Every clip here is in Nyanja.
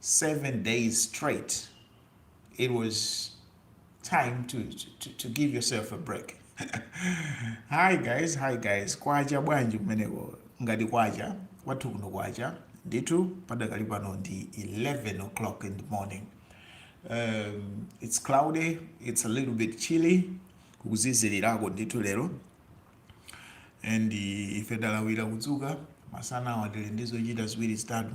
7 days straight, it was time to, to, to give yourself a break. hi guys, hi guys. Kwacha bwanji kumeneko ngati kwacha kwathu kuno kwacha ndithu padakali pano ndi 11 o'clock in the morning. Um, it's cloudy, it's a little bit chilly kukuzizilirako ndithu lero and ife talawira kudzuka masana awa tili ndi zochita ziwiri zitatu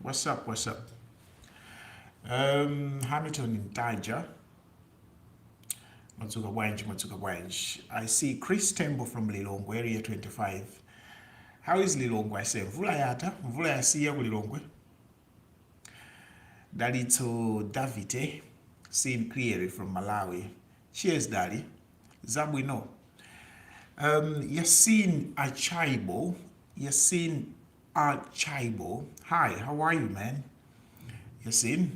What's up? What's up? Um, Hamilton in Taja. Matsuka Wanj, Matsuka Wanj. I see Chris Tembo from Lilongwe, Area 25. How is Lilongwe? I say, Mvula yata, mvula yasiya ku Lilongwe. Dalitso Davite, seen clearly from Malawi. Cheers, Dali. Zabwino. Um, Yasin Achaibo. Yasin Achaibo. Hi, how are you, man? Yasin.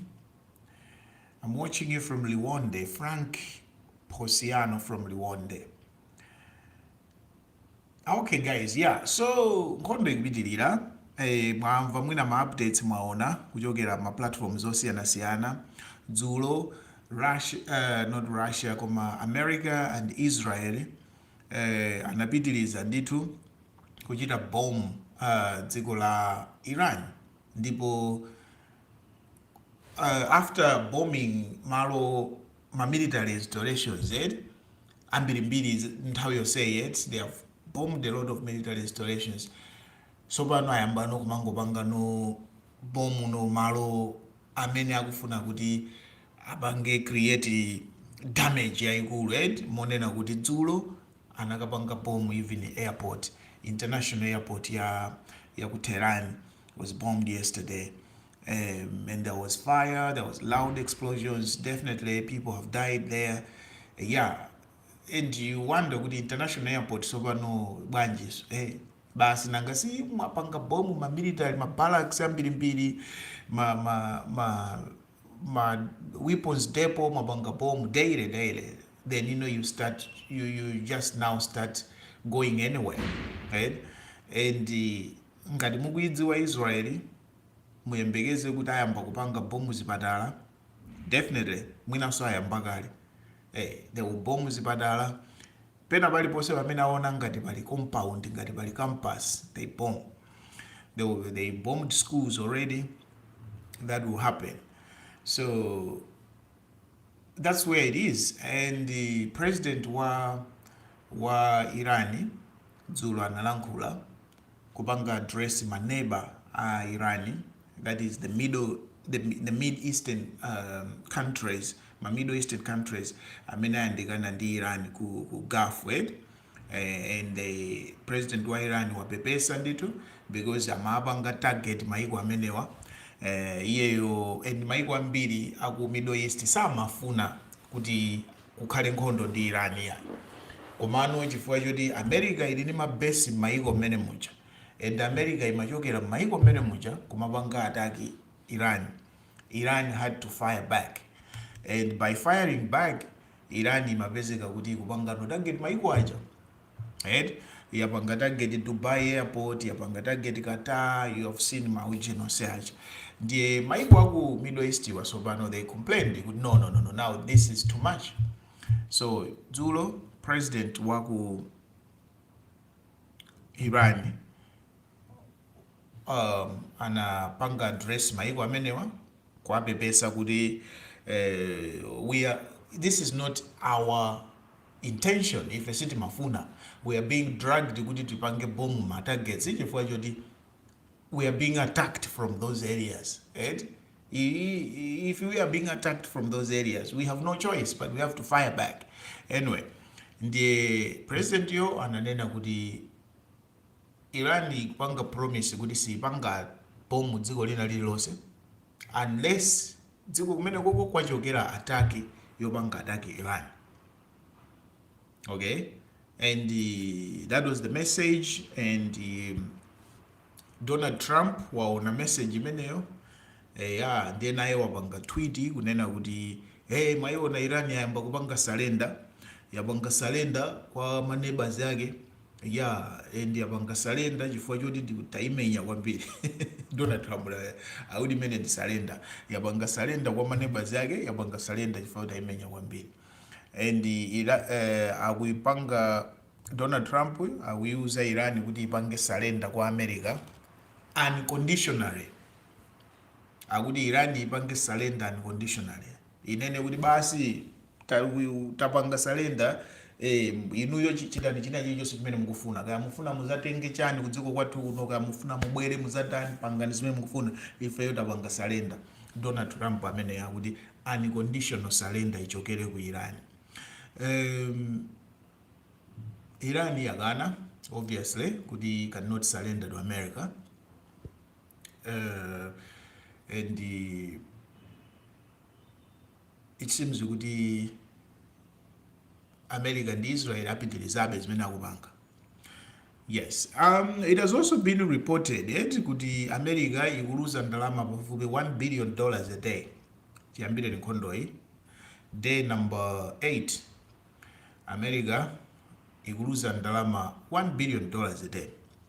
I'm watching you from Liwonde. Frank Posiano from Liwonde. Ah, okay guys yeah so nkhondo ikupitilira eh, mwamva mwina ma updates mwaona kuchokera ma platforms osiyanasiyana dzulo Russia, uh, not russia koma america and israel eh, anapitiliza ndithu kuchita bomb uh, dziko la iran ndipo uh, after bombing malo ma military installations eti, ambirimbiri nthawi yonseyi eti, they have bombed a lot of military installations, tsopano ayambano kumangopangano bomb no malo amene akufuna kuti apange create damage yaikulu eti, monena kuti dzulo anakapanga bomb even airport international airport ya ya ku Tehran was bombed yesterday Um, and there was fire, there was loud explosions. Definitely, people have died there. Yeah, and you wonder kuti international airport sopano bwanjiso eh, basi nanga si mwapanga bomu ma military ma barracks ambirimbiri ma, ma, ma, ma weapons depot mwapanga bomu daily daily then you know you start you, you just now start going anywhere right? and uh, ngati mukuidziwa israeli muyembekeze kuti ayamba kupanga bomb zipatala definitely mwinanso ayamba kale eh, they will bomb zipatala pena paliponse pamene aona ngati pali compound ngati pali campus they bomb they, will, they bombed schools already that will happen so that's where it is and the president wa wa iran dzulo analankhula kupanga address ma neba a Iran that is the middle the, the mid eastern um, countries ma middle eastern countries amene ayandikana ndi Iran ku, ku Gulf eh? eh, and the president wa Iran wapepesa ndithu because amapanga target maiko amenewa eh, iyeyo and maiko ambiri aku middle east samafuna kuti kukhale nkhondo ndi Iran iyayi komano chifukwa choti America ili ndi ma base mmayiko mmene muja and America imachokera mmayiko mmene muja kumapanga attack Iran, Iran had to fire back and by firing back Iran imapezeka kuti ikupangano target mayiko aja. right yapanga target dubai airport yapanga target qatar you have seen maujin onse aja ndiye maiko aku middle east wa sopano they complained kuti no no no no now this is too much so dzulo president waku iran um, anapanga address maiko amenewa kuwapepesa kuti eh, we are, this is not our intention ife sitimafuna we are being dragged kuti tipange bomb ma targets chifukwa choti we are being attacked from those areas right? if we are being attacked from those areas we have no choice but we have to fire back anyway ndiye president yo ananena kuti iran ikupanga promise kuti siipanga bomb dziko lina lililonse unless dziko kumenekoko kwachokera attack yopanga attack Iran okay and uh, that was the message and uh, Donald Trump waona message imeneyo eh, ya ndiye naye wapanga tweet kunena kuti hey, mwaiona Iran yayamba kupanga surrender yapanga surrender kwa maneighbors yake Yaa and yapanga surrender chifukwa choti tayimenya kwambiri Donald Trump akuti imeneyi ndi surrender yapanga surrender kwa maneighbors yake yapanga surrender chifukwa choti tayimenya kwambiri and ira eh, akuipanga Donald Trump akuiuza Iran kuti ipange surrender kwa America unconditionally akuti Iran ipange surrender unconditionally inene kuti basi ta- uyu- tapanga surrender eh, inuyo chi- chitani china chilichonse chimene mukufuna kaya mufuna muzatenge chani kudziko kwathu kuno kaya mufuna mubwere muzatani pangani zimene mukufuna ifeyo tapanga surrender donald trump amene akuti unconditional surrender ichokere ku iran um, iran yakana obviously kuti cannot surrender to america uh, and uh, it seems kuti america ndi israel apitirizabe zimene akupanga yes um, it has also been reported eti kuti america ikuluza ndalama pafupi 1 billion dollars a day chiyambireni nkhondoyi day number 8 america ikuluza ndalama 1 billion dollars a day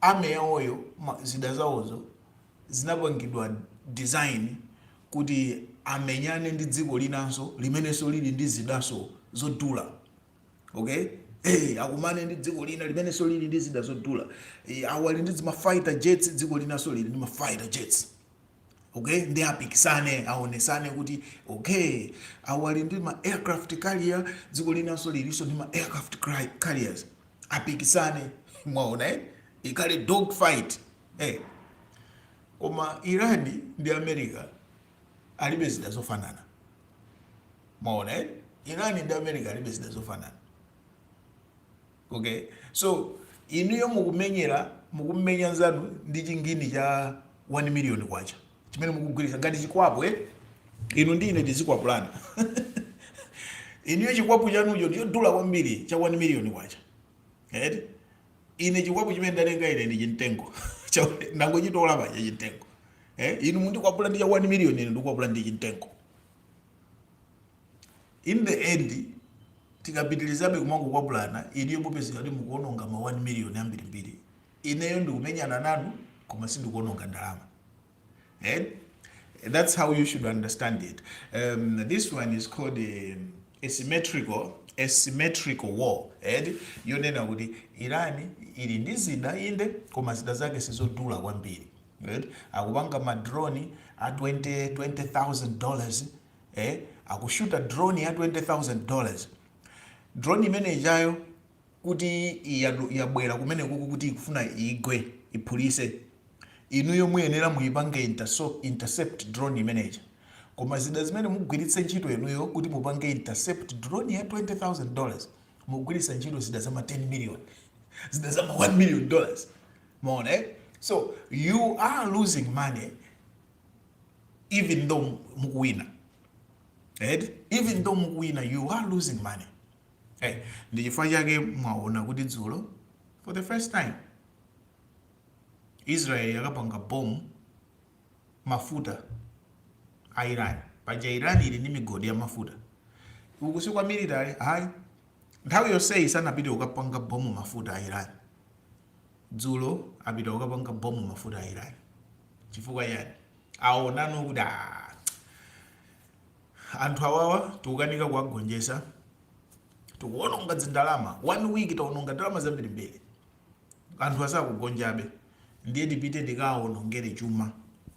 Army yawoyo zida zawozo zinapangidwa design kuti amenyane ndi dziko linanso limenenso lili ndi zidanso zodula okay Hey, akumane ndi dziko lina limenenso lili ndi zida zodula Eh, awo ali ndi ma fighter jets dziko linanso lili ndi ma fighter jets okay ndi apikisane aonesane kuti okay awo ali ndi ma aircraft carrier dziko linanso lilinso ndi ma aircraft cri- carriers apikisane mwaona eh? ikhale dog fight eh. koma iran ndi america alibe zida zofanana mwaona eh? iran ndi america alibe zida zofanana Ok so inuyo mukumenyera mukumenya nzanu ndi chingini cha 1 million kwacha chimene mukugwiritsa ngati chikwapu eh? inu ndi ine tizikwapulana inuyo chikwapu chanucho chodula kwambiri cha 1 million kwacha eh? ine chikwapu chimene ndatenga ine ndi chimtengo ndangochitola pa chimtengo eh? inu mundikwapula ndi cha 1 million ine ndikwapula ndi chimtengo In the end tikapitilizabe kumangokwapulana inuyo mupezeka kuti mukuononga ma 1 million ambirimbiri. Ineyo ndikumenyana nanu koma sindikuononga ndalama. Eh? That's how you should understand it. Um, this one is called um, asymmetrical asymmetrical war and yonena kuti irani ili ndi zida inde koma zida zake sizodula kwambiri akupanga madroni a 20000 dollars eh, akushuta drone ya 20000 dollars drone imene ijayo kuti yabwera kumene kuku kuti ikufuna igwe iphulise inuyo muyenera muyipange intercept drone imeneja koma zida zimene mugwiritse ntchito inuyo kuti mupange intercept drone ya 20000 dollars mugwiritsa ntchito zida zama 10 million zida zama 1 million dollars mwaona eh? so you are losing money even though mukuwina right? even though mukuwina you are losing money hey, eh, ndi chifukwa chake mwaona kuti dzulo for the first time israel yakapanga bomu mafuta a iran paja iran ili ndi migodi ya mafuta uku si kwa military hayi nthawi yonseyi sanapite kukapanga bomu mafuta a iran dzulo apita kukapanga bomu mafuta a iran chifukwa chani aonano kuti "Ah, anthu awawa tikukanika kuwagonjesa tikuononga dzindalama one week taononga ndalama zambirimbiri anthu asakugonjabe ndiye tipite tikawaonongere chuma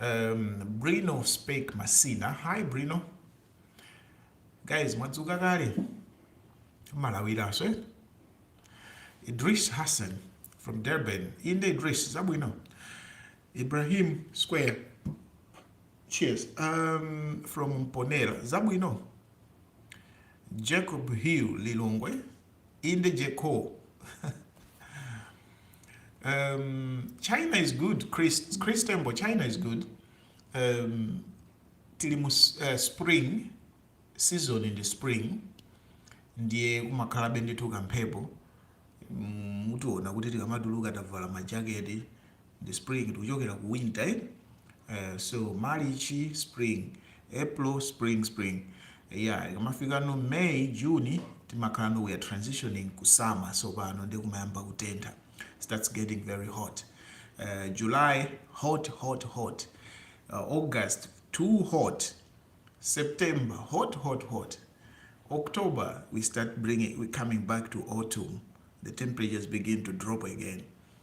Um, Brino Spake Masina. Hi, Brino. Guys, mwadzuka kale? Malawiranso, eh? Idris Hassan from Durban. Inde Idris, zabwino. Ibrahim Square. Cheers. Um, from Mponera. Zabwino. Jacob Hill Lilongwe. Inde Jeko um, China is good Chris, Chris Tembo China is good um, tili mu uh, spring season in the spring ndiye kumakhalabe ndithu kamphepo mm, mutiona kuti tikamatuluka tavala majaketi the spring tikuchokera ku winter eh? Eh, so march spring april spring spring yeah ikamafika no may june timakhala no we are transitioning ku summer so pano ndi kumayamba kutentha starts getting very hot uh, july hot hot hot uh, august too hot september hot hot hot october we start bringing we coming back to autumn the temperatures begin to drop again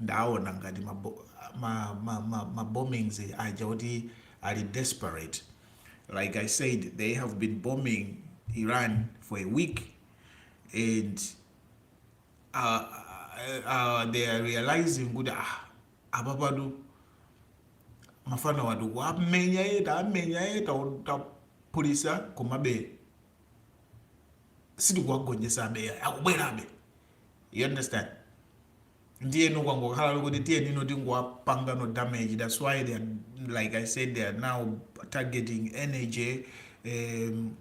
ndaona ngati ma, bo- ma, ma, ma, ma bombings aja kuti ali desperate like i said they have been bombing iran for a week and uh, uh, they are realizing kuti ah, apa patu mafanawa tukuwamenya ee tawamenya ee taphulitsa komabe sitikuwagonjesabe akubwerabe you understand ndiyeno kwangokhala kuti tiyeni no tingowapangano damage that's why they are, like i said they are now targeting energy um,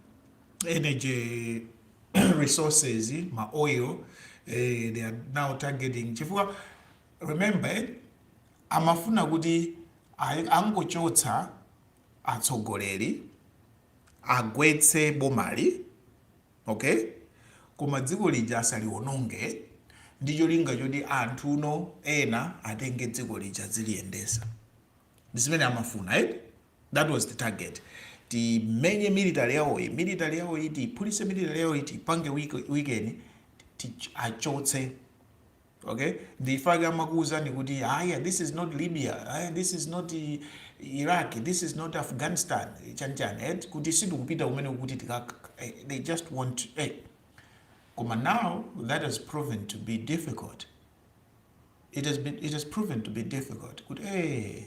energy resources ma oil eh, they are now targeting chifukwa remember eh, amafuna kuti angochotsa atsogoleri agwetse bomali Ok koma dziko lija asaliwononge ndi cholinga choti anthuno ena atenge dziko lija adziliyendesa ndi zimene amafuna eti that was the target timenye military yawoyi military yawoyi tiyiphulitse military yawoyi tiyipange weak- weaken ti- achotse okay ndifake amakuwuzani kuti aya this is not libya aya this is not i- iraq this is not afghanistan chanichani et kuti sitikupita kumene kuti tikaka eh, they just want eh. koma now that has proven to be difficult it has, been, it has proven to be difficult kuti eh,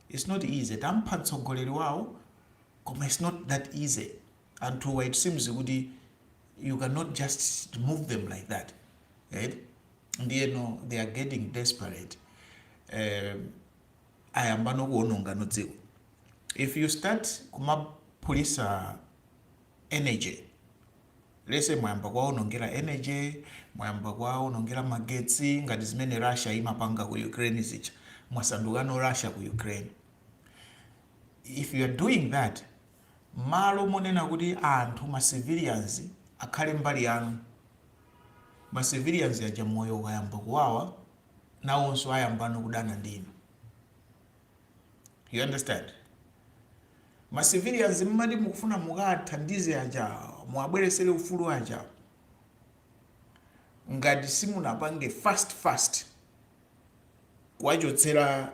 it's not easy tampha mtsogoleri wawo koma it's not that easy anthuwa it seems kuti you cannot just remove them like that right ndiyeno they are getting desperate um, ayambano kuonongano dziko if you start kumaphulisa energy let's say mwayamba kwaonongera energy mwayamba kwaonongera magetsi ngati zimene russia imapanga ku ukraine zija mwasandukano russia ku ukraine if you are doing that Mmalo monena kuti anthu ma civilians akhale mbali yanu, ma civilians aja moyo ukayamba kuwawa nawonso ayambano kudana ndi inu. You understand? Ma civilians mmati mukufuna mukathandize aja, muwabweresere ufulu aja, ngati simunapange fast fast, kuwachotsera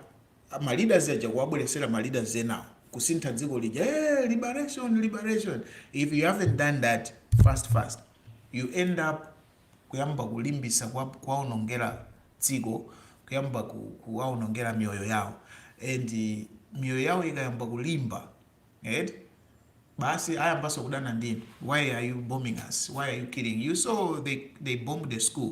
ma leaders aja kuwabweresera ma leaders enawo kusintha dziko lija hey, liberation liberation if you haven't done that fast fast you end up kuyamba kulimbisa kuwaonongera dziko kuyamba kuwaonongera mioyo yawo and mioyo yawo ikayamba kulimba right? basi ayambanso kudana ndinu why are you bombing us why are you killing you saw they, they bombed the school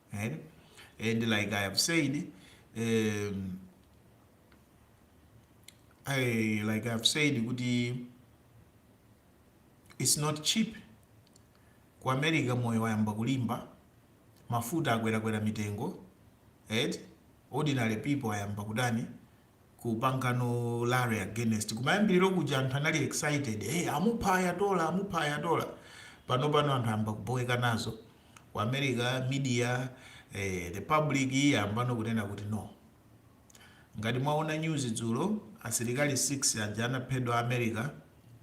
Eh? And like I have said, um, I, like I've said kuti it's not cheap ku america moyo wayamba kulimba mafuta akwerakwera mitengo right? ordinary people ayamba kudani kupangano rally against kumayambiriro kuja anthu anali excited hey, amupha Ayatollah amupha Ayatollah pano pano anthu ayamba kuboweka nazo Ku America media eh, the public yayambano kunena kuti no. Ngati mwaona news dzulo asilikali 6 aja anaphedwa a America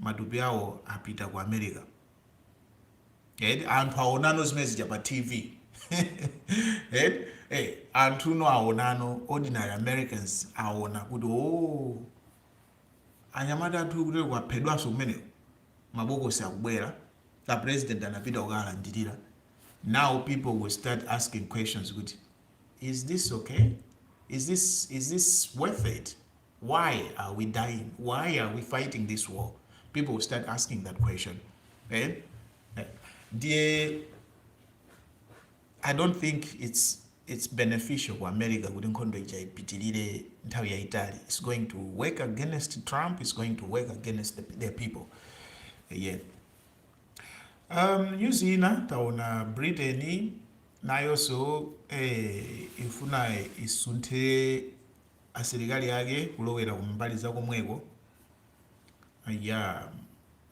matupi awo apita ku America. And anthu aonano zimene zija pa TV. And, eh, anthuno aonano ordinary Americans aona kuti oh Anyamata athu kuteleko aphedwanso kumeneko mabokosi akubwela a president anapita kukalandilila now people will start asking questions kuti is this ok is this is this worth it why are we dying why are we fighting this war people will start asking that question eh? ndiye i don't think it's it's beneficial ku America kuti nkhondo ija ipitilire nthawi yaitali, it's going to work against Trump, it's going to work against their people yeah. Um, news ina taona Britain nayonso eh, ifuna isunthe asilikali ake kulowera kumbali za komweko Yeah,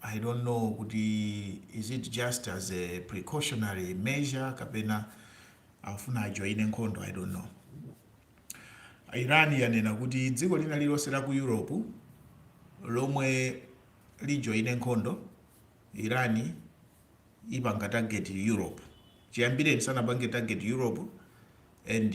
I don't know kuti is it just as a precautionary measure kapena afuna ajoine nkhondo I don't know. Iran yanena kuti dziko lina lililonse la ku Europe lomwe lijoine nkhondo Iran ipanga target Europe chiyambireni sanapange target Europe and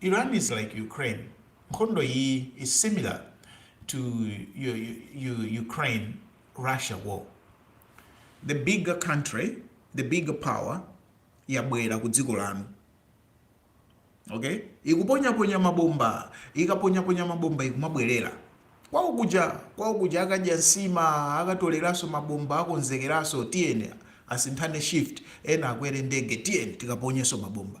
Iran is like Ukraine nkhondo iyi is similar to Ukraine Russia war the bigger country the bigger power yabwera ku dziko lanu okay ikuponyaponya mabomba ikaponyaponya mabomba ikumabwerera kwawo kuja kwawo kuja akadya nsima akatoleranso mabomba akonzekeranso tiyeni asinthane shift ena akwere ndege tiyeni tikaponyenso mabomba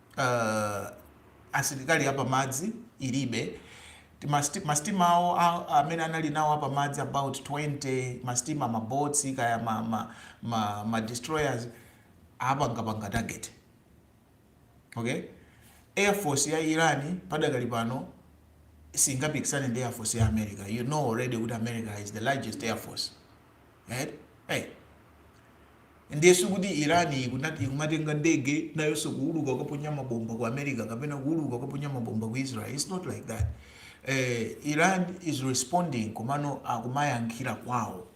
uh, asilikali apamadzi ilibe masitima awo amene anali nawo apamadzi about 20 masitima maboats kaya ma, ma, ma, ma destroyers apangapanga target okay air force ya irani padakali pano singapikisane ndi air force ya america you know already that america is the largest air force right hey. ndiye sikuti iran ikunati ikumatenga ndege nayonso kuuluka kukaponya mabomba ku america kapena kuuluka kukaponya mabomba ku israel its not like that eh, iran is responding komano akumayankhira kwawo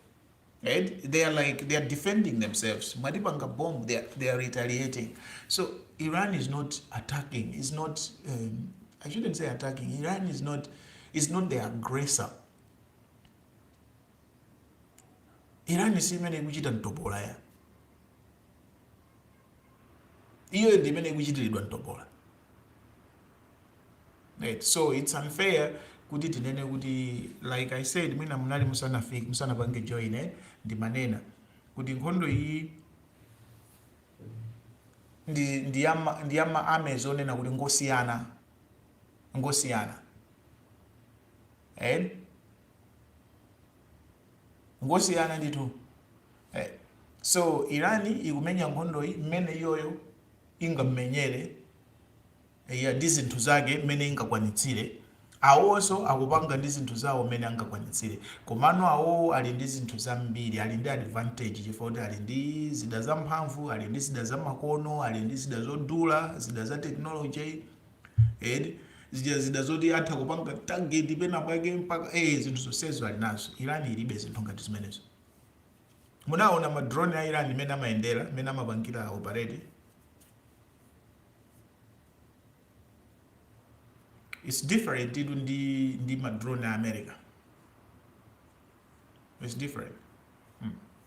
right? They are like they are defending themselves. Mwatipanga bomb, they are, they are retaliating. So Iran is not attacking. Is not um, I shouldn't say attacking. Iran is not is not the aggressor. Iran si imene ikuchita mtopola ya iyo ndi imene ikuchitiridwa mtopola right. So it's unfair kuti tinene kuti like I said mwina munali musanafika musanapange join eh, ndimanena kuti nkhondo iyi ndi ndi ya ma- ndi ya ma armies onena kuti ngosiyana ngosiyana eh? ngosiyana ndithu eh. so iran ikumenya nkhondoyi mmene iyoyo ingammenyere ya ndi zinthu zake mmene ingakwanitsire awowonso akupanga ndi zinthu zawo mmene angakwanitsire komano awowo ali ndi zinthu zambiri ali ndi advantage chifukwa kuti ali ndi zida zamphamvu ali ndi zida zamakono ali ndi zida zodula zida za technology eti zija zida zoti atha kupanga target pena pake mpaka eh zinthu zonsezo ali nazo irani ilibe zinthu ngati zimenezo munaona ma drone a irani mmene amayendera mmene amapangira operate it's different itu ndi ndi ma drone a america it's different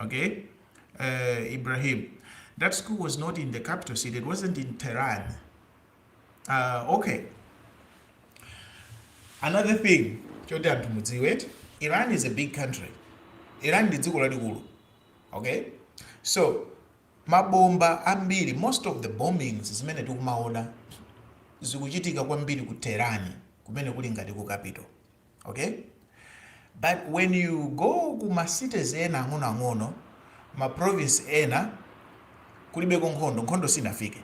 Okay? Uh, Ibrahim. That school was not in the capital city. It wasn't in Tehran. Uh, okay. Another thing choti anthu mudziwe, Iran is a big country. Iran ndi dziko lalikulu. Okay? So, mabomba ambiri, most of the bombings zimene tikumaona zikuchitika kwambiri ku Tehran kumene kuli ngati ku capital. ok but when you go ku ma cities ena ang'onoang'ono ma province ena kulibeko nkhondo nkhondo sinafike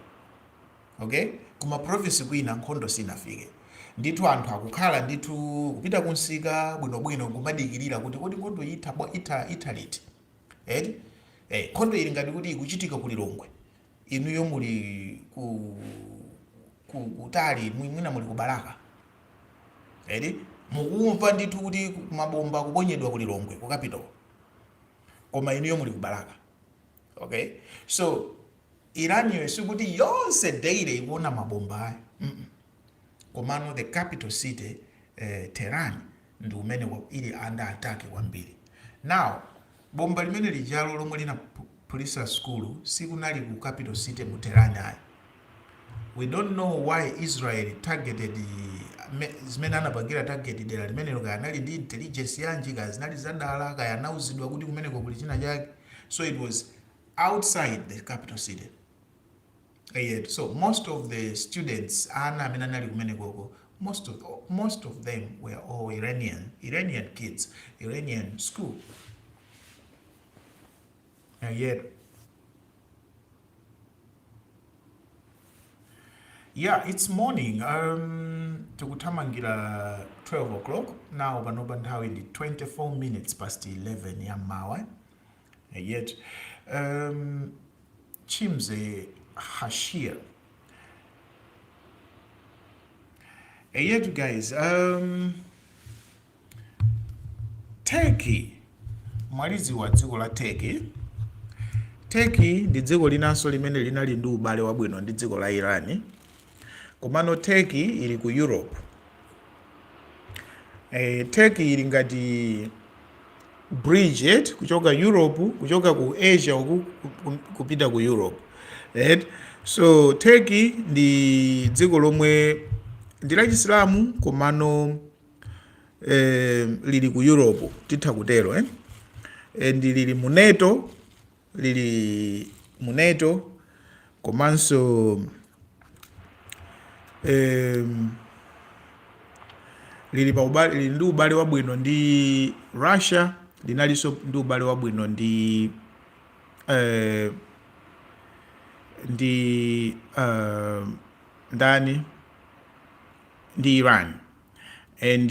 ok ku ma province kwina nkhondo sinafike ndithu anthu akukhala ndithu kupita kumsika bwinobwino kumadikirira kuti kodi nkhondo itha bwa- itha itha liti eti eh, nkhondo ili ngati kuti ikuchitika ku lilongwe inuyo muli ku ku- kutali mwi- mwina muli ku balaka Eti mukumva ndithu kuti mabomba akuponyedwa ku Lilongwe ku capital, koma inuyo muli ku Balaka. Okay, so Iran iyo sikuti yonse daily ikuona mabomba ayi mm -mm. Komano the capital city eh, Tehran ndi kumene ili under attack kwambiri now bomba limene lijalo lomwe linaphulitsa sukulu sikunali ku capital city mu Tehran ayi we don't know why Israel targeted me- chimene anapangira target dera limenelo kaya anali ndi intelligence yanji kaya zinali zadala kaya anauzidwa kuti kumeneko kuli china chake so it was outside the capital city Eyetu. So most of the students, ana amene anali kumenekoko, most of, most of them were all Iranian, Iranian kids, Iranian school. Eyetu. Yeah, it's morning. Um, tikuthamangira 12 o'clock now panopa nthawi ndi 24 minutes past 11 ya m'mawa eyetu um, chimze hashir eyetu guys um, turkey mwalidziwa dziko la turkey turkey ndi dziko linanso limene linali ndi ubale wabwino ndi dziko la iran komano turkey ili ku europe e, turkey ili ngati bridge eti kuchoka europe kuchoka ku asia uku ku- kupita ku europe eti so turkey ndi dziko lomwe ndi la chisilamu komano eh, lili ku europe titha kutero eh? and lili mu nato lili mu nato komanso em, lili pa ubale lili ndi ubale wabwino ndi russia linalinso ndi ubale wabwino ndi eh, ndi eh, ndani ndi iran and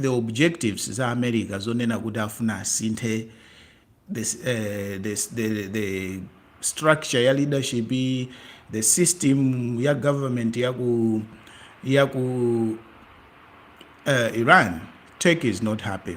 the objectives za america zonena kuti afuna asinthe the, uh, the, the, the structure ya leadership the system ya government ya ku ya ku uh, iran turkey is not happy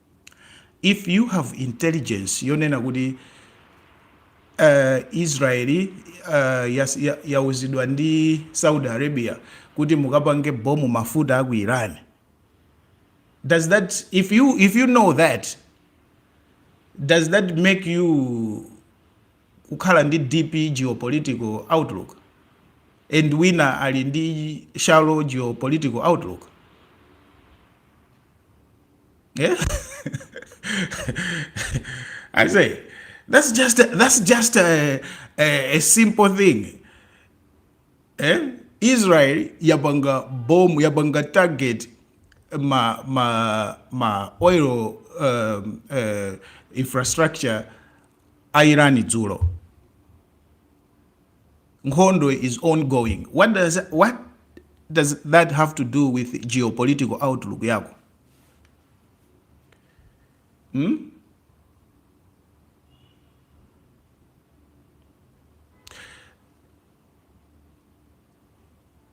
if you have intelligence yonena kuti uh, israeli uh, yauzidwa ya, ya ndi saudi arabia kuti mukapange bomu mafuta aku iran does that if you if you know that does that make you kukhala ndi deep geopolitical outlook and wina ali ndi shallow geopolitical outlook Yeah. I say that's just a, that's just a, a, a simple thing. Eh? Israel yabanga bomb yabanga target ma ma ma oil um, uh, infrastructure airani dzulo Nkhondo is ongoing what does what does that have to do with geopolitical outlook yako hmm?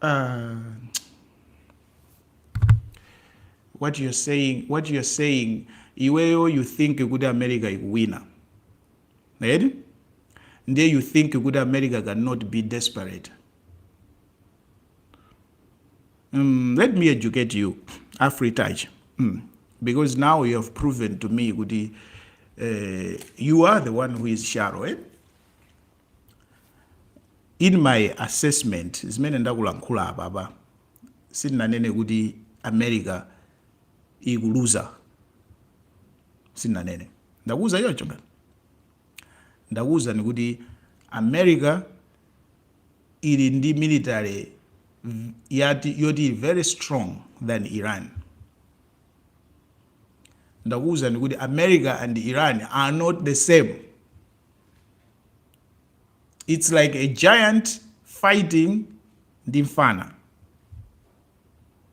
uh, what you're saying what you're saying iweyo you think kuti america ikuwina eti ndiye you think kuti america cannot be desperate mm, let me educate you afritouch mm. because now you have proven to me kuti uh, you are the one who is shallow eh? in my assessment zimene ndakulankhula apapa sindinanene kuti america ikuluza sinanene ndakuuza choncho ngati ndakuuzani kuti america ili ndi military v- yati yoti ili very strong than iran ndakuuzani kuti america and iran are not the same it's like a giant fighting ndi mfana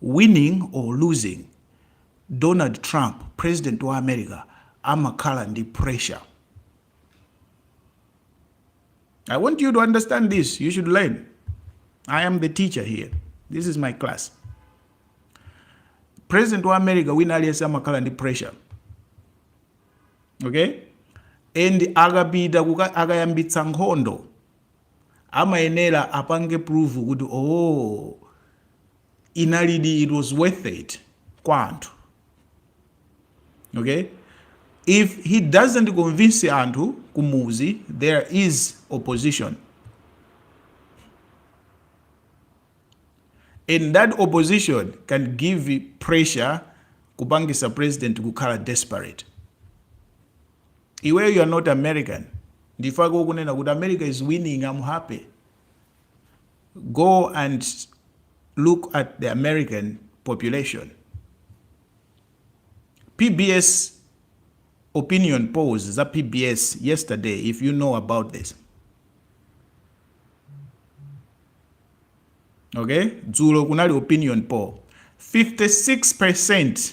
Winning or losing, Donald Trump, president wa America, amakhala ndi pressure. I want you to understand this. You should learn. I am the teacher here. This is my class. President wa America wina aliyense amakhala ndi pressure. Okay? And akapita kuka- akayambitsa nkhondo amayenera apange prove kuti ooh inalidi it was worth it kwa anthu okay if he doesn't convince anthu kumuzi there is opposition and that opposition can give pressure kupangisa president kukhala desperate Iweyo you're not American ndifake ukunena kuti America is winning am happy go and look at the American population PBS opinion polls za PBS yesterday if you know about this okay dzulo kunali opinion poll 56%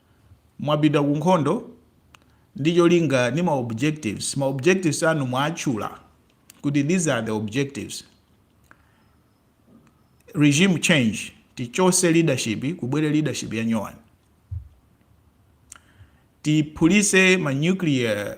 Mwapita ku nkhondo ndi cholinga ndi ma objectives. Ma objectives anu mwaatchula kuti these are the objectives. Regime change, tichotse leadership kubwere leadership ya nyowani. Tiphulise ma nuclear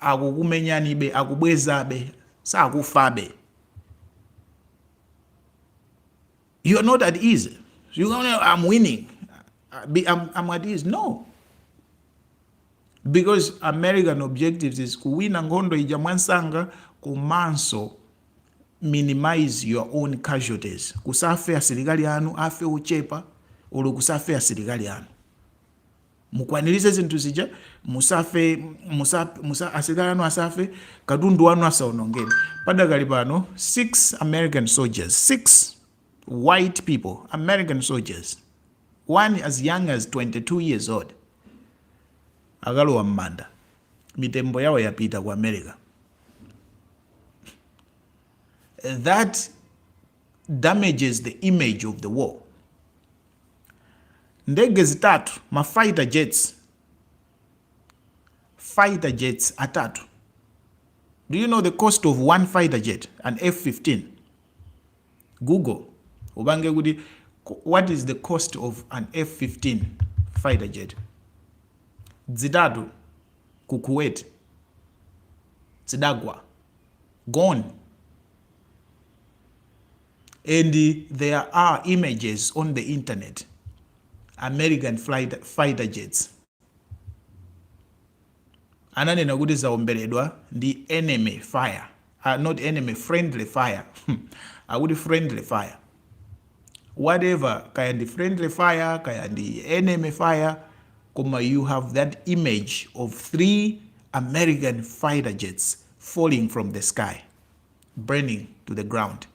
akukumenyanibe, akubwezabe, sakufabe. You are not at ease. You don't know I'm winning. I'm, I'm at ease. No. Because American objectives is kuwina nkhondo ija mwamsanga komanso minimize your own casualties. Kusafe asilikali anu, afe ochepa, olo kusafe asilikali anu. mukwaniritse zinthu zija musafe musa, musa, asilikali anu asafe katundu wanu asaonongedwe padakali pano 6 american soldiers 6 white people american soldiers one as young as 22 years old akalowa m'manda mitembo yawo yapita ku america that damages the image of the war. Ndege zitatu ma fighter jets, fighter jets atatu. Do you know the cost of one fighter jet, an F-15? Google ubange kuti what is the cost of an F-15 fighter jet? Zitatu ku Kuwait zidagwa gone and there are images on the internet american flight, fighter jets ananena kuti zaomberedwa ndi enemy fire uh, not enemy friendly fire akuti friendly fire whatever kaya ndi friendly fire kaya ndi enemy fire koma you have that image of three american fighter jets falling from the sky burning to the ground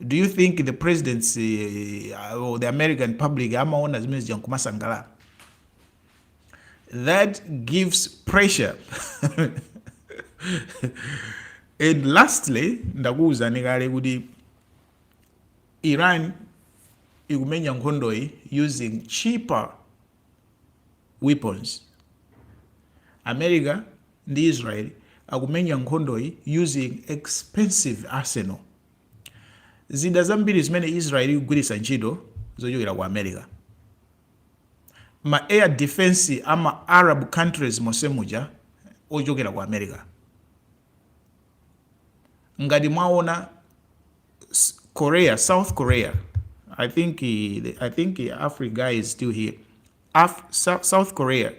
do you think the presidency uh, or the american public amaona zimene zija nkumasangalala that gives pressure and lastly ndakuwuzani kale kuti iran ikumenya nkhondoyi using cheaper weapons. America ndi Israel akumenya nkhondoyi using expensive arsenal. Zida zambiri zimene Israel ikugwiritsa ntchito zochokera ku America. Ma air defense a ma Arab countries monse muja ochokera ku America. Ngati mwaona Korea, South Korea. I think he, I think he, Africa guy is still here. Af, South, South Korea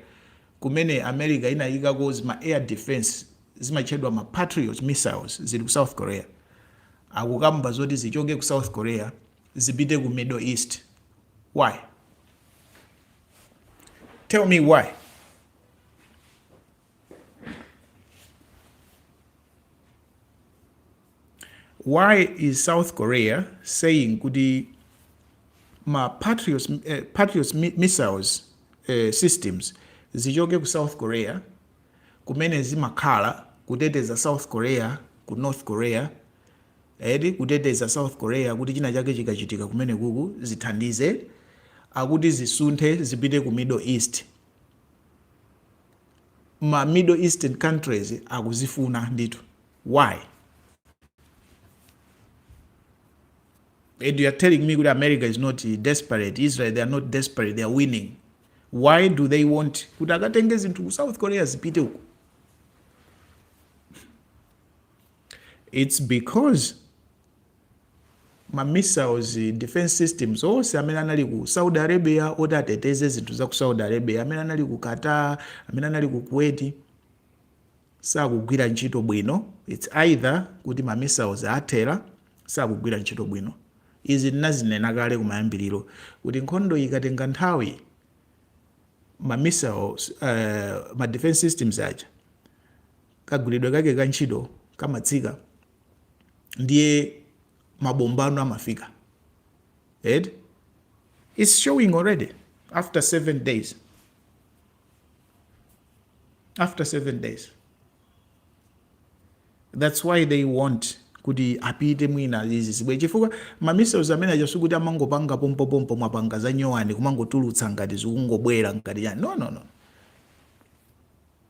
kumene America inayikako ma air defense zimatchedwa ma Patriot missiles zili ku South Korea. Akukamba zoti zichoke ku South Korea zipite ku Middle East. Why? Tell me why. why is south korea saying kuti ma patriots, eh, patriots mi- missiles eh, systems zichoke ku south korea kumene zimakhala kuteteza south korea ku north korea edi kuteteza south korea kuti china chake chikachitika kumene kuku zithandize akuti zisunthe zipite ku middle east ma middle eastern countries akuzifuna ndithu why and you are telling me kuti america is not desperate israel they are not desperate they are winning why do they want kuti akatenge zinthu ku south korea zipite uko it's because ma missiles, defense systems onse amene anali ku Saudi Arabia oti ateteze zinthu za ku Saudi Arabia, amene anali ku Qatar, amene anali ku Kuwait sakugwira ntchito bwino. It's either kuti ma missiles athera sakugwira ntchito bwino. Izi ndinazinena kale kumayambiriro kuti nkhondo ikatenga nthawi ma missiles, uh, ma defense systems aja kagwiridwe kake ka ntchito kamatsika. ndiye mabomba ano amafika and it's showing already after seven days after seven days that's why they want kuti apite mwina izi zibwe chifukwa mamissiles amene aja sikuti amangopanga pompopompo mwapanga za nyowani kumangotulutsa ngati zikungobwera ngati yani no no no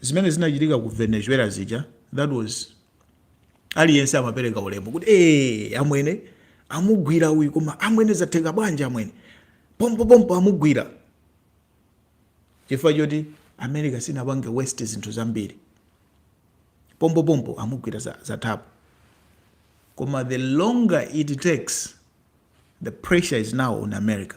zimene zinachitika ku venezuela zija that was aliyense amapereka ulemu kuti ee amwene amugwira uyu koma amwene zatheka bwanji amwene pompopompo amugwira chifukwa choti america sinapange waste zinthu zambiri pompopompo amugwira za- zathapo koma the longer it takes the pressure is now on america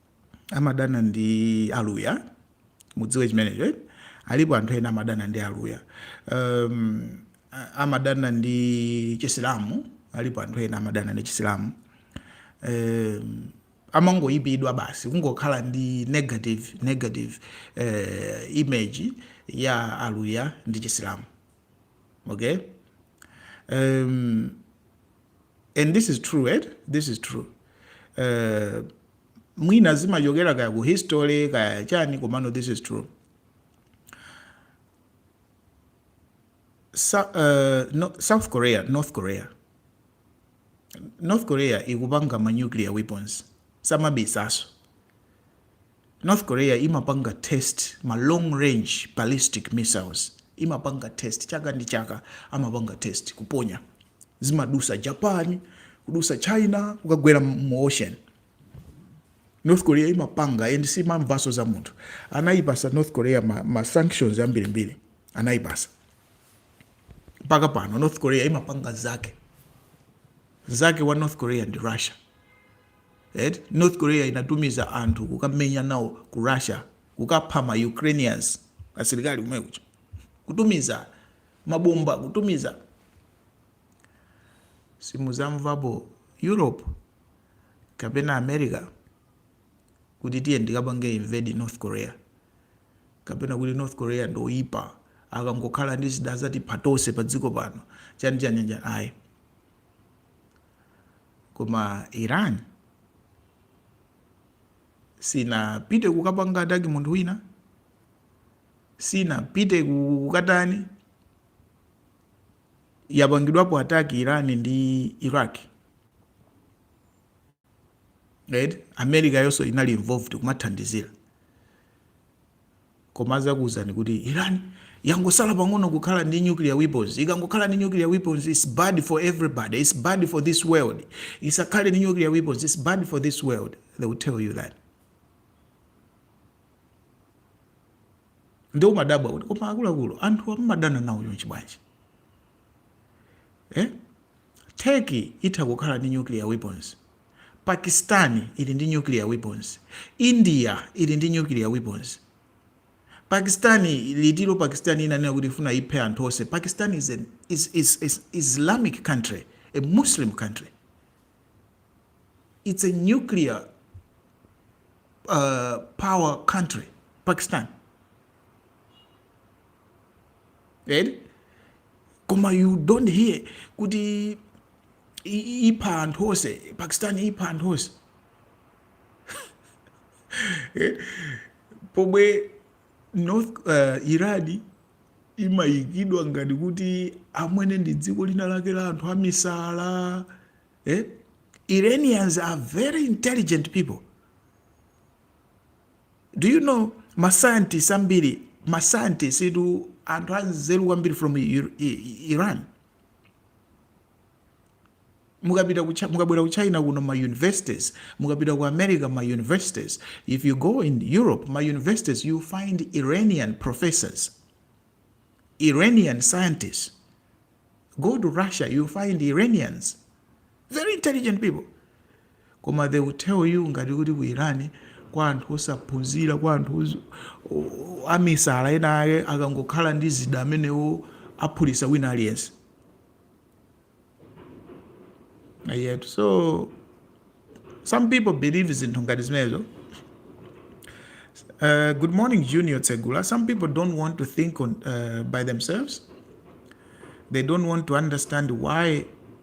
amadana ndi aluya mudziwe chimenecho eh? alipo anthu ena amadana ndi aluya um, a- amadana ndi chisilamu alipo anthu ena amadana ndi chisilamu um, amangoyipidwa basi kungokhala ndi negative negative uh, image ya aluya ndi chisilamu okay um, and this is true right? this is true uh, mwina zimachokera kaya ku history kaya chani komano this is true Sa, uh, no, south korea north korea north korea ikupanga ma nuclear weapons samabisaso North Korea imapanga test ma long range ballistic missiles imapanga test chaka ndi chaka amapanga test kuponya zimadusa Japan kudusa China kukagwera mu ocean North Korea imapanga and simamvaso za munthu anayipasa North Korea ma, ma sanctions ambirimbiri anayipasa mpaka pano North Korea imapanga zake nzake wa North Korea ndi Russia eti north korea inatumiza anthu kukamenya nawo ku russia kukapha ma ukrainians asilikali komweko kutumiza mabomba kutumiza simuzamvapo europe kapena america kuti tiyeni tikapange invade north korea kapena kuti north korea ndoyipa akangokhala ndi zida zatipha tonse pa dziko pano chani chani chani ayi koma iran sinapite kukapanga ataki munthu wina sinapite ku- kukatani yapangidwapo ataki iran ndi iraq right america yonso inali involved kumathandizira Koma azakuuzani kuti Iran yangosala pang'ono kukhala ndi nuclear weapons. Ikangokhala ndi nuclear weapons it's bad for everybody. It's bad for this world. Isakhale ndi nuclear weapons it's bad for this world. They will tell you that. Ndiye umadabwa kuti koma akuluakulu anthu amadana nawo chonchi bwanji? Eh? Turkey itha kukhala ndi nuclear weapons. Pakistan ili ndi nuclear weapons, India ili ndi nuclear weapons, Pakistan litiro Pakistan inanena kuti ikufuna iphe anthu onse, Pakistan is an is, is, is Islamic country, a Muslim country. It's a nuclear uh, power country, Pakistan. eti koma you don't hear kuti ipha anthu onse pakistan ipha anthu onse eh? pomwe north uh, irani imayikidwa ngati kuti amwene ndi dziko lina lake la anthu amisala eh? iranians are very intelligent people do you know ma scientists ambiri ma scientists idu anthu anzeru kwambiri from Ir- I- iran mukapita ku Chi- mukabwera ku china kuno ma universities mukapita ku america ma universities if you go in europe ma universities you find iranian professors iranian scientists go to russia you find iranians very intelligent people koma they will tell you ngati kuti ku iran kwa anthu osaphunzira kwa anthu oz- o- o- amisala ena ake akangokhala ndi zida zimenezo aphulitsa wina aliyense yet so some people believe zinthu ngati zimenezo Uh, good morning, Junior Tsegula. Some people don't want to think on, uh, by themselves. They don't want to understand why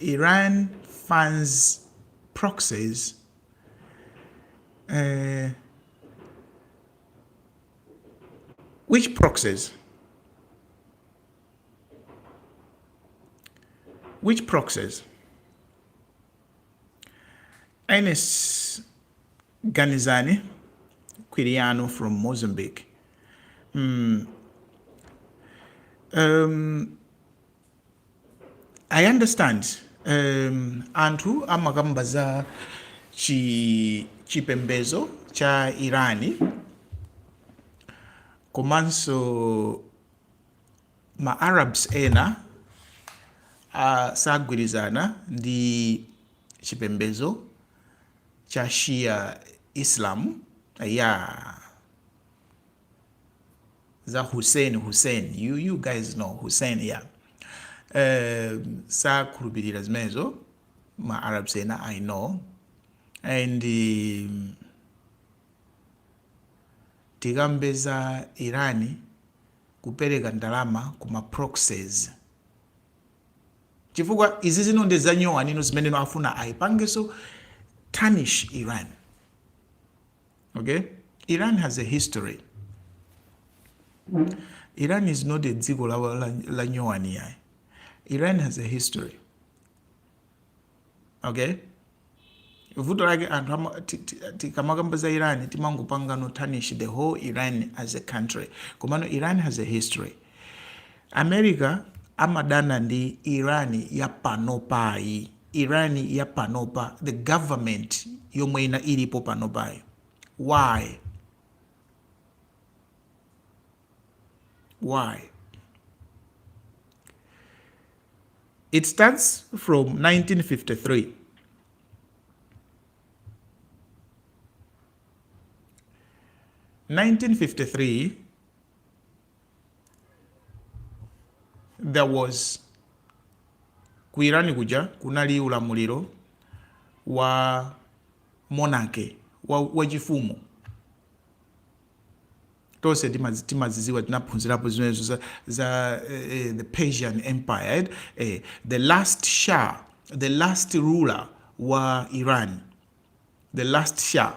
Iran funds proxies uh, which proxies which proxies Ernest Ganizani Quiriano from Mozambique mm. um, I understand um anthu amakamba za chi chipembedzo cha Irani komanso ma Arabs ena asagwirizana ndi chipembedzo cha Shia Islam yeah za Hussein Hussein you, you guys know Hussein ya yeah. Eh, sakhulupirira zimenezo ma arabs ena i know and um, tikambe za irani kupereka ndalama ku ma proxies chifukwa izi zino ndi zanyowani izo zimene no afuna ayipangenso tarnish iran okay iran has a history iran is not a dziko la, la, la nyowani yayi iran has a history okay vuto lake anthu ama- ti- ti- tikamakamba za iran timangopanga no tarnish the whole iran as a country komano iran has a history america amadana ndi iran yapanopayi Iran ya panopa the government yomwe ina ilipo panopayi why why it starts from 1953 1953 there was ku iran kuja kunali ulamuliro wa monarchy wa, wa chifumu tonse timazi- timaziziwa tinaphunzirapo zimenezo za, za eh, eh, the persian empire eh, eh, the last shah the last ruler wa iran the last shah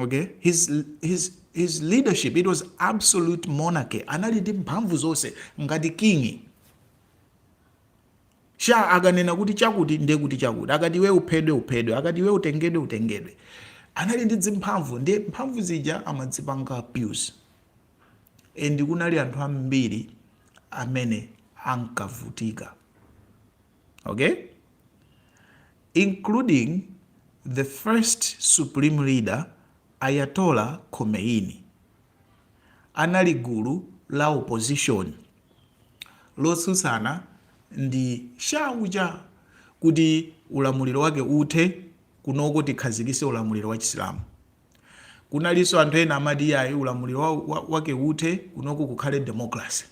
okay his, his, his leadership it was absolute monarchy anali ndi mphamvu zonse ngati king Shah akanena kuti chakuti ndiye kuti chakuti akati iwe uphedwe uphedwe akati iwe utengedwe utengedwe anali ndi dzimphamvu ndiye mphamvu zija amadzipanga abuse and kunali anthu ambiri amene ankavutika okay including the first supreme leader Ayatollah Khomeini anali gulu la opposition lotsutsana ndi Shah uja kuti ulamuliro wake uthe kunoko tikhazikise ulamuliro wa chisilamu kunalinso anthu ena amati iyayi ulamuliro wa, wa, wake uthe kunoko kukhale democracy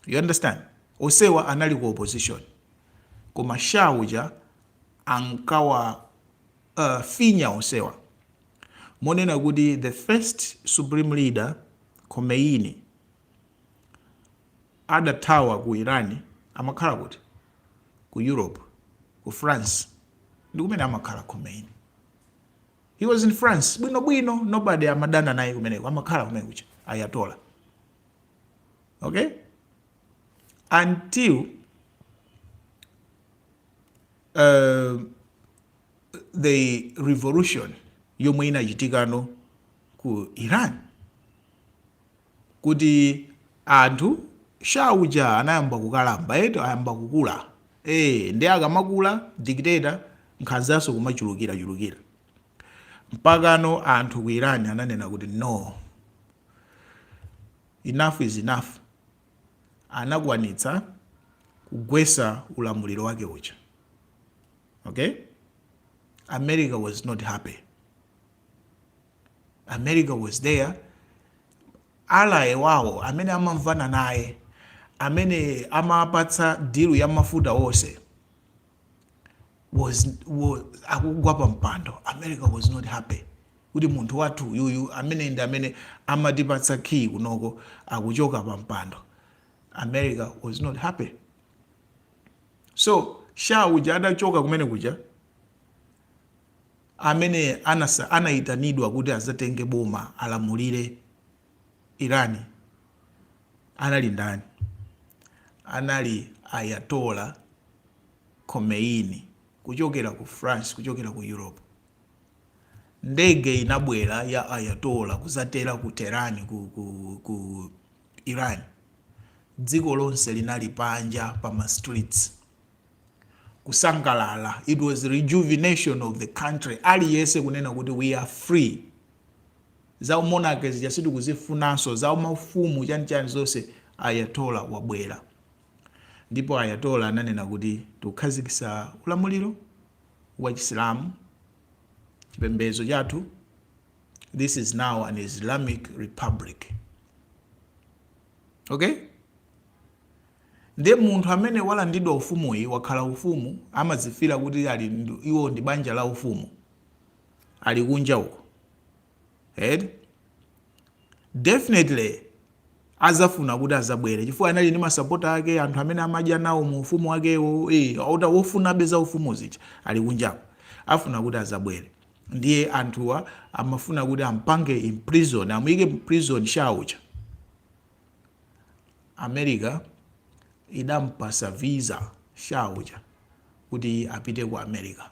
you understand osewa anali ku opposition koma Shah uja ankawa uh, finya osewa monena kuti the first supreme leader khomeini adathawa ku iran amakhala kuti ku europe ku france ndi kumene amakhala khomeini he was in france bwinobwino nobody amadana naye kumeneko amakhala kumene kuja Ayatollah okay until uh, the revolution yomwe inachitikano ku iran kuti anthu Shah uja anayamba kukalamba eti ayamba kukula e, ndiye akamakula dictator nkhanzanso kumachulukira chulukira Mpakano anthu ku Iran ananena kuti no, enough is enough, anakwanitsa kugwesa ulamuliro wake uja, okay, America was not happy, America was there ally wawo amene amamvana naye amene amapatsa dilu ya mafuta onse onse akugwa pa mpando america was not happy kuti munthu wathu uyuyu amene ndi amene amatipatsa kiyi kunoko akuchoka pa mpando america was not happy so Shah uja adachoka kumene kuja amene anasa- anayitanidwa kuti azatenge boma alamulire Irani anali ndani? Anali Ayatollah Khomeini kuchokera ku France, kuchokera ku Europe. Ndege inabwera ya Ayatollah kuzatera ku Tehran ku, ku, ku Iran. Dziko lonse linali panja pa ma streets kusangalala. It was rejuvenation of the country. Aliyese kunena kuti we are free. Za u monarchy zija sitikuzifunanso, za u mafumu chani chani zonse Ayatollah wabwera. Ndipo Ayatollah ananena kuti tikukhazikitsa ulamuliro wa chisilamu, chipembedzo chathu, this is now an Islamic Republic. Ok? Nde munthu amene walandidwa ufumuyi, wakhala ufumu, amadzifeela kuti ali, iwo ndi banja la ufumu. ali kunja uko eti definitely azafuna kuti azabwere chifukwa anali ndi masapota ake anthu amene amadya nawo mu ufumu wakewo wofunabe za ufumu zija ali kunjako afuna kuti azabwere ndiye anthuwa amafuna kuti ampange imprison amuyike mu prison Shah uja america idampasa visa Shah uja kuti apite ku america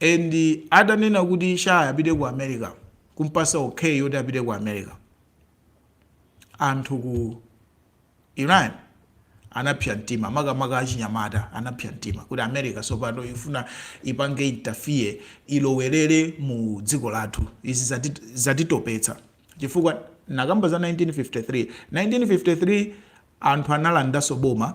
and atanena kuti Shah apite ku america kumpasa okay yoti apite ku america anthu ku iran anapsa mtima makamaka achinyamata anapsa mtima kuti america sopano ifuna ipange interfere ilowerere mu dziko lathu izi zati- zatitopetsa chifukwa nakamba za 1953 1953 anthu analandaso boma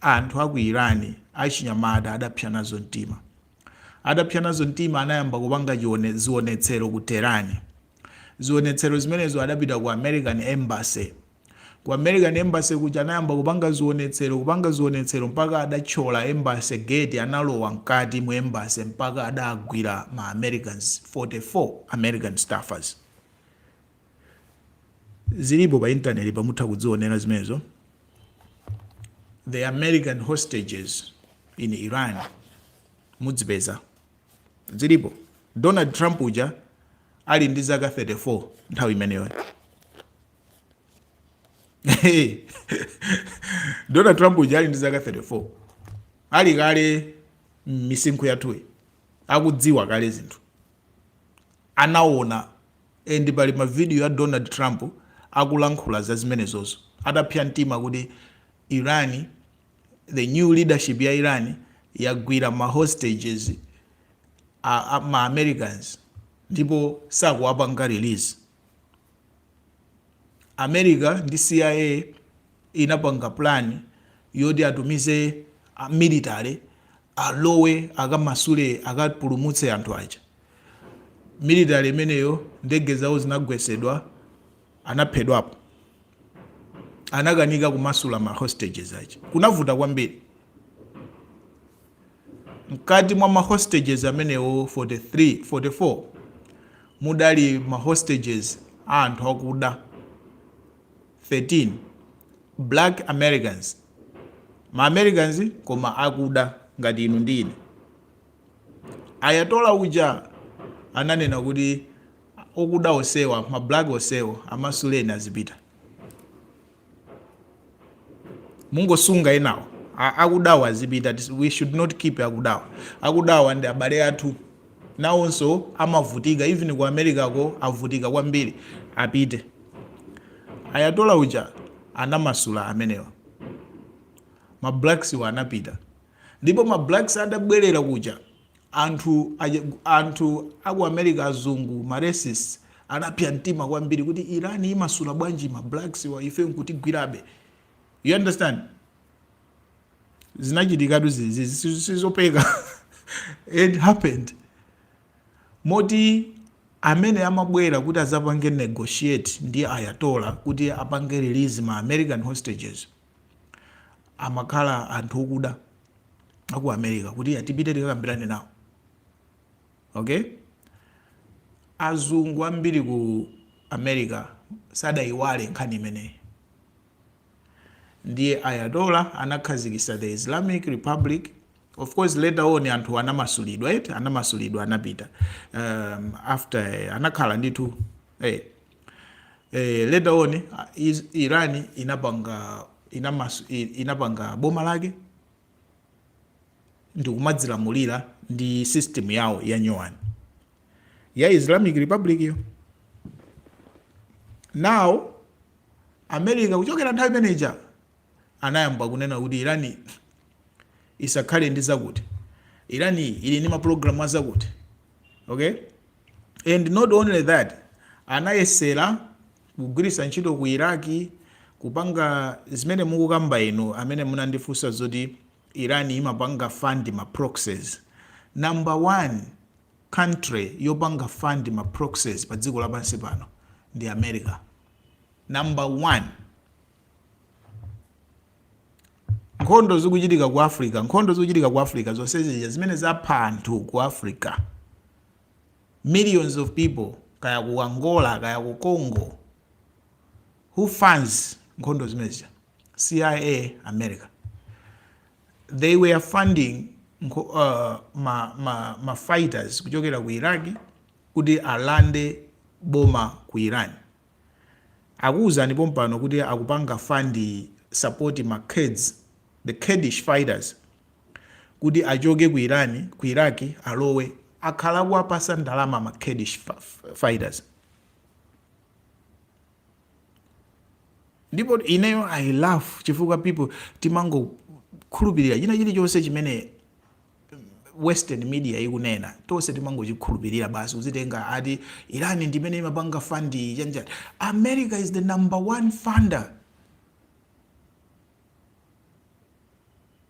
Anthu a ku Iran achinyamata adapsa nazo mtima. Adapsa nazo mtima anayamba kupanga zionetsero ku Tehran. Zionetsero zimenezo adapita ku American Embassy. Ku American Embassy kuja anayamba kupanga zionetsero, kupanga zionetsero mpaka adathyola Embassy gate analowa mkati mu Embassy mpaka adagwira ma Americans 44 American staffers. zilipo pa intaneti mutha kudzionera zimenezo the american hostages in iran mudzipeza zilipo donald trump uja ali ndi zaka 34 nthawi imeneyo donald trump uja ali ndi zaka 34 ali kale misinkhu yathuyi akudziwa kale zinthu anaona And pali ma video a Donald Trump akulankhula za zimenezozo atapsya mtima kuti Iran the new leadership ya Iran yagwira ma hostages a, a ma Americans ndipo sakuwapanga release. America ndi CIA inapanga plan yoti atumize a military alowe akamasule akapulumutse anthu aja military imeneyo ndege zawo zinagwesedwa anaphedwapo anakanika kumasula ma hostages aja kunavuta kwambiri mkati mwa ma hostages amenewo 44 mudali ma hostages a anthu akuda 13, Black Americans, Ma Americans koma akuda ngati inu ndi ine. Ayatollah uja ananena kuti okuda onsewa, ma black onsewo amasuleni azipita. Mungosunga enawo. A- Akudawa azipita. Tis- We should not keep akudawa. Akudawa ndi abale athu. nawonso amavutika even ku America ko avutika kwambiri apite Ayatollah uja anamasula amenewa ma blacks wa anapita ndipo ma blacks adabwerera kuja anthu aja- anthu aku America azungu ma racists anapsa mtima kwambiri kuti Iran imasula bwanji ma blacks wa ife nkutigwirabe you understand zinachitikatu zizi si- sizopeka it happened moti amene amabwera kuti azapange negotiate ndi ayatola kuti apange release ma american hostages amakhala anthu okuda aku america kuti atipite tikakambirane nawo okay azungu ambiri ku america sadaiwale nkhani imeneyi ndiye Ayatollah anakhazikisa the Islamic Republic of course later on anthu anamasulidwa eti anamasulidwa anapita um, after eh, anakhala ndithu eh, eh, later on ah, Is- Iran inapanga inamas, i- inapanga boma lake ndikumadzilamulira ndi system yawo ya nyowani ya islamic republic yo now america kuchokera nthawi imeneja anayamba kunena kuti irani isakhale ndi zakuti irani ili ndi mapulogalamu azakuti okay and not only that anayesera kugwiritsa ntchito ku Iraq kupanga zimene mukukamba inu amene munandifunsa zoti Iran imapanga fund ma proxies number one country yopanga fund ma proxies pa dziko lapansi pano ndi America number one nkhondo zikuchitika ku Africa nkhondo zikuchitika ku Africa zonse zija zimene zapha anthu ku Africa millions of people kaya ku angola kaya ku congo who funds nkhondo zimene zija cia america they were funding nkho, uh, ma, ma, ma fighters kuchokera ku iraq kuti alande boma ku iran Akuuzani pompano kuti akupanga fund support ma Kurds, the Kurdish fighters, kuti achoke ku Iran, ku Iraq alowe. Akhala akuwapasa ndalama ma Kurdish fighters. Ndipo ineyo I laugh chifukwa people timangokhulupilira china chilichonse chimene western media ikunena tonse timangochikhulupirira basi kuzitenga ati irani ndimene imapanga fund chanichani america is the number one funder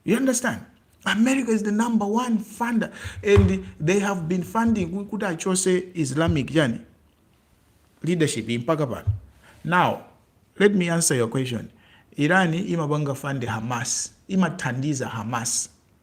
you understand america is the number one funder and they have been funding ku- kuti achose islamic chani leadership mpaka pano now let me answer your question irani imapanga fund hamas imathandiza hamas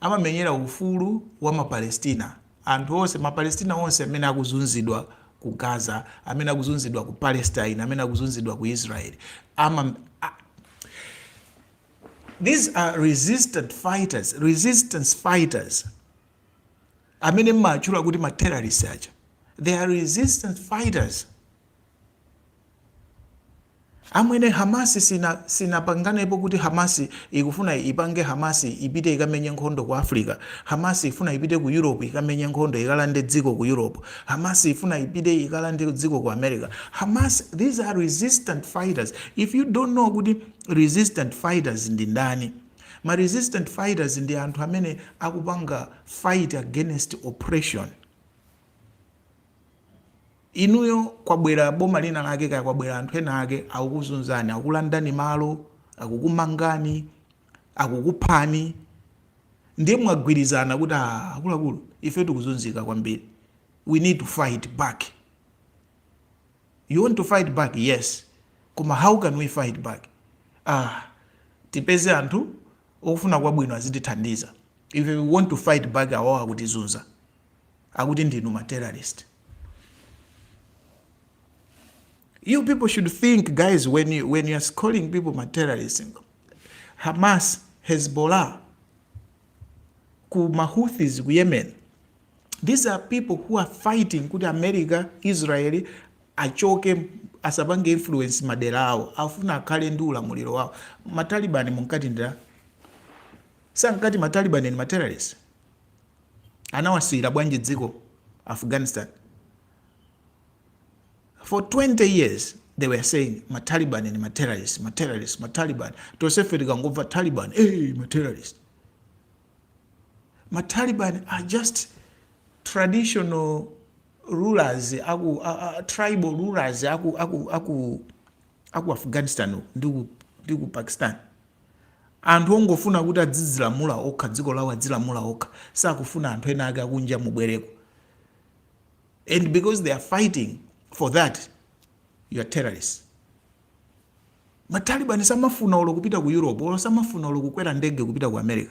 amamenyera ufulu wa ma Palestina, anthu onse, ma Palestina onse amene akuzunzidwa ku Gaza, amene akuzunzidwa ku Palestine, amene akuzunzidwa ku Israel. Ama, a, these are resistance fighters, resistance fighters amene mmatchula kuti ma terrorists aja. They are resistance fighters. Amwene Hamas sinapanganepo kuti Hamas ikufuna ipange Hamas ipite ikamenye nkhondo ku Africa Hamas ifuna ipite ku Europe ikamenye nkhondo ikalande dziko ku Europe Hamas ifuna ipite ikalande dziko ku America Hamas these are resistant fighters if you don't know kuti resistant fighters ndi ndani ma resistant fighters ndi anthu amene akupanga fight against oppression Inuyo kwabwera boma lina lake kaya kwabwera anthu ena ake akukuzunzani, akukulandani malo, akukumangani, akukuphani ndiye mwagwirizana kuti ah, akuluakulu ife tikuzunzika kwambiri, we need to fight back. You want to fight back? Yes, koma how can we fight back? Ah, tipeze anthu ofuna kwabwino azitithandiza if we want to fight back awawa akutizunza akuti ndinu ma terrorist you people should think guys when you, when you're calling people ma terrorist hamas hezbollah ku mahuthis ku yemen these are people who are fighting kuti america israel achoke asapange influence madera awo afuna akhale ndi ulamuliro wawo matalibani munkati ndira sankati matalibani ni materrorist anawasiyira bwanji dziko afghanistan for 20 years they were saying mataliban ni materrorist materrorist mataliban tosefe tikangomva taliban hey, materrorist mataliban are just traditional rulers aku, a, a, tribal rulers aku, aku, aku, aku afghanistan ndi ku pakistan Anthu ongofuna kuti adzidzilamula okha, dziko lawo adzilamula okha, sakufuna anthu ena ake akunja mubwereko and because they are fighting for that you are terrorists. Matalibani samafuna olo kupita ku Europe, olo samafuna olo kukwera ndege kupita ku America.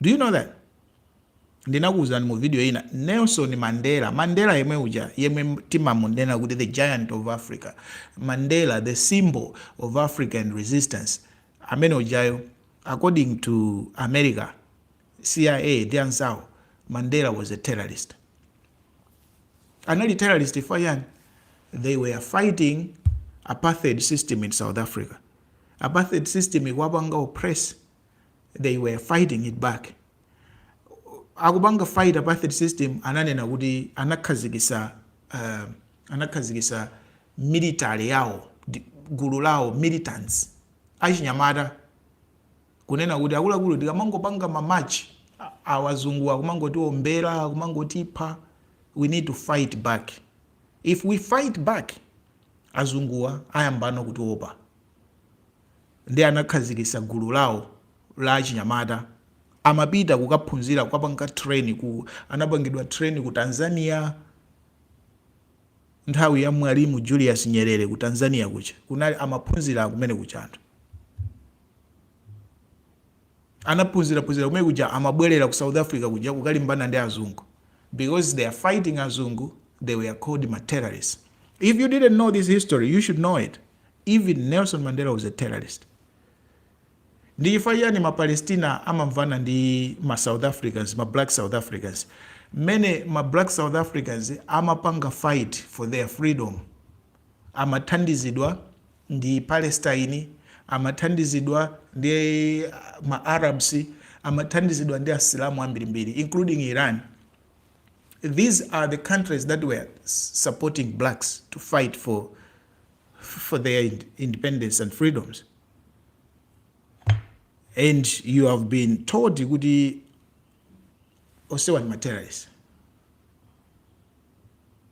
Do you know that? Ndinakuwuzani mu video ina Nelson Mandela, Mandela yemwe uja yemwe timamunena kuti the giant of Africa, Mandela the symbol of African resistance, amene ujayo according to America, CIA ndi anzawo, Mandela was a terrorist. Anali terrorist chifwa chani? They were fighting apartheid system in South Africa. Apartheid system ikwapanga oppress they were fighting it back akupanga fight apartheid system ananena kuti anakhazikisa uh, anakhazikisa military yawo ndi- gulu lawo militants achinyamata kunena kuti akuluakulu tikamangopanga mamachi azunguwa akumangotiombera akumangotipha we need to fight back if we fight back azunguwa ayambano kutiopa Nde anakhazikisa gulu lawo la achinyamata amapita kukaphunzira kukapanga train ku anapangidwa train ku Tanzania nthawi ya mwalimu Julius Nyerere ku Tanzania kuja kunali amaphunzira kumene kuja anthu. Anaphunzira phunzira kumene kuja amabwelera ku South Africa kuja kukalimbana ndi azungu because they are fighting azungu they were called ma terrorist if you didn't know this history you should know it even Nelson Mandela was a terrorist ndi chifukwa chiyani ma Palestina amamvana ndi ma South Africans ma black South Africans mmene ma black South Africans amapanga fight for their freedom amathandizidwa ndi Palestine, amathandizidwa ndi ma Arabs, amathandizidwa ndi Asilamu ambirimbiri including Iran. These are the countries that were supporting blacks to fight for, for their independence and freedoms. And you have been told kuti onsewa ndi ma terrorist.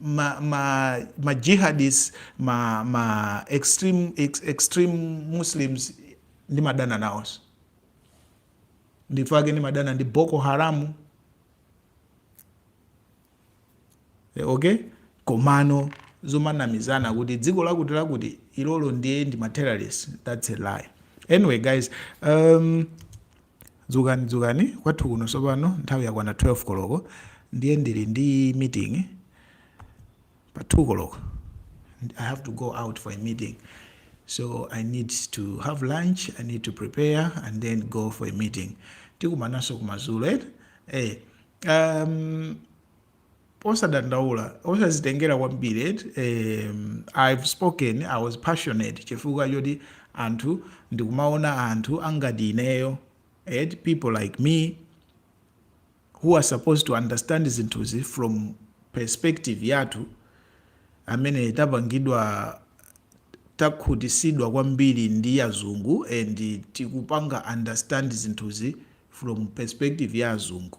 ma, ma, ma jihadist ma, ma extreme, ex, extreme muslims ndimadana nawonso n'chifukwa chake ndimadana ndi boko haramu eh, okay komano zomanamizana kuti dziko lakuti lakuti ilolo ndiye ndi ma terrorist that's a lie anyway guys um, Dzukani, dzukani, kwathu kuno tsopano nthawi yakwana 12 koloko, ndiye ndiri ndi meeting pa 2 koloko. I have to go out for a meeting, so I need to have lunch, I need to prepare and then go for a meeting. Tikumananso kumadzulo eti. Eh, um, osadandaula osazitengera kwambiri eti em, i've spoken i was passionate chifukwa choti anthu ndikumaona anthu angati ineyo eti people like me who are supposed to understand zinthuzi from perspective yathu amene tapangidwa takhutisidwa kwambiri ndi azungu and tikupanga understand zinthuzi from perspective ya azungu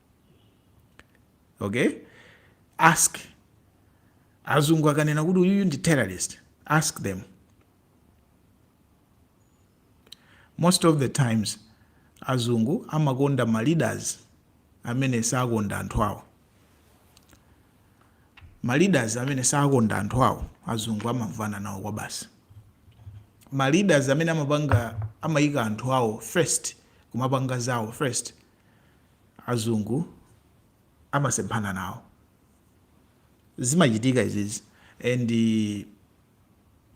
okay ask azungu akanena kuti uyuyu ndi terrorist ask them most of the times azungu amakonda ma leaders amene sakonda anthu awo ma leaders amene sakonda anthu awo azungu amamvana nawo kwa basi ma leaders amene amapanga amayika anthu awo first kumapanga zawo first azungu amasemphana nawo zimachitika izizi and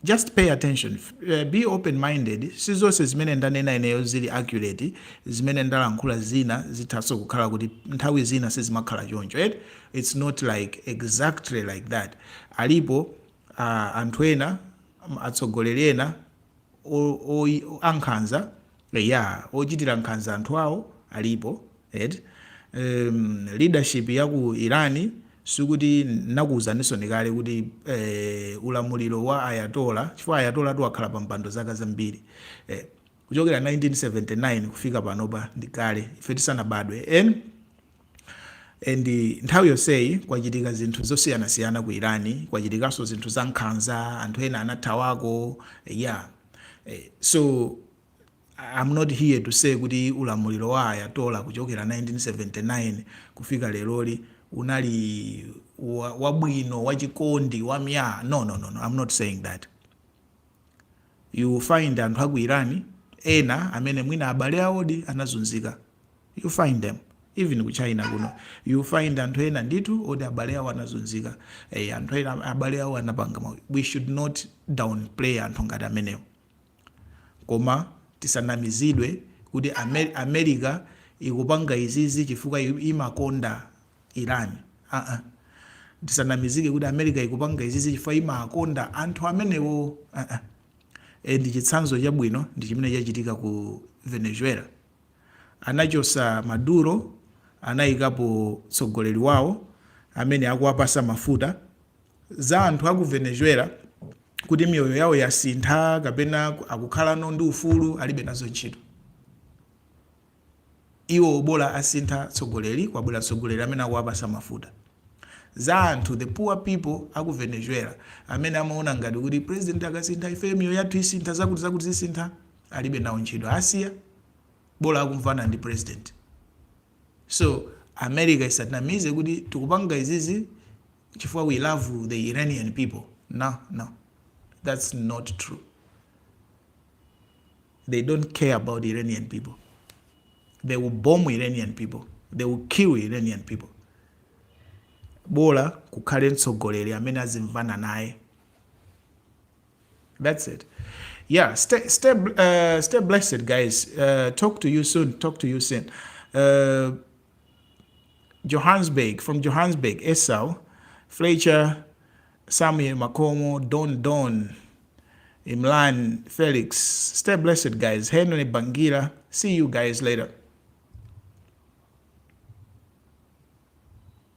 just pay attention uh, be open minded si zonse zimene ndanena ineyo zili accurate zimene ndalankhula zina zithanso kukhala kuti nthawi zina sizimakhala choncho right? it's not like exactly like that alipo uh, anthu ena atsogoleri ena ankhanza eya ochitira nkhanza anthu awo alipo eti um, leadership ya ku Iran sikuti nakuuzaninso kale kuti eh, ulamuliro wa ayatola chifukwa ayatola wakhala pa mpando zaka zambiri eh, kuchokera 1979 kufika panopa ndi kale ife tisanabadwe en and nthawi yonseyi kwachitika zinthu zosiyanasiyana ku irani kwachitikanso zinthu za nkhanza anthu ena anathawako yeah eh, so I'm not here to say kuti ulamuliro wa ayatola kuchokera 1979 kufika leroli unali wabwino wachikondi wam'nya no, no, no, no. I'm not saying that you find anthu aku irani ena amene mwina abale awodi anazunzika You find them even ku China kuno you find anthu ena ndithu oti abale awo anazunzika eh, anthu ena abale awo anapanga mau we should not downplay anthu ngati amenewo koma tisanamizidwe kuti Amer america ikupanga izizi chifukwa imakonda iran uh -uh. tisanamizike kuti america ikupanga izizi chifukwa imakonda anthu amenewo uh -uh. and chitsanzo chabwino ndi chimene chachitika ku venezuela anachosa Maduro anayikapo tsogoleli wawo amene akuwapasa mafuta, za anthu aku Venezuela kuti miyoyo yawo yasintha kapena akukhalano ndi ufulu alibe nazo ntchito iwo bola asintha tsogoleli kwabwela tsogoleli amene akuwapasa mafuta, za anthu the poor people aku Venezuela amene amaona ngati kuti president akasintha ifeyo miyoyo yathu isintha zakuti zakuti zisintha. alibe nawo ntchito asiya bola akumvana ndi president so america isatinamize kuti tikupanga izizi chifukwa we love the iranian people no no that's not true they don't care about iranian people they will bomb iranian people they will kill iranian people bola kukhale mtsogoleri amene azimvana naye That's it. Yeah, stay, stay, uh, stay blessed, guys. Uh, talk to you soon. Talk to you soon. Uh, Johannesburg, from Johannesburg, Esau, Fletcher, Samuel Makomo, Don Don, Imlan, Felix. Stay blessed, guys. Henry Bangira. See you guys later.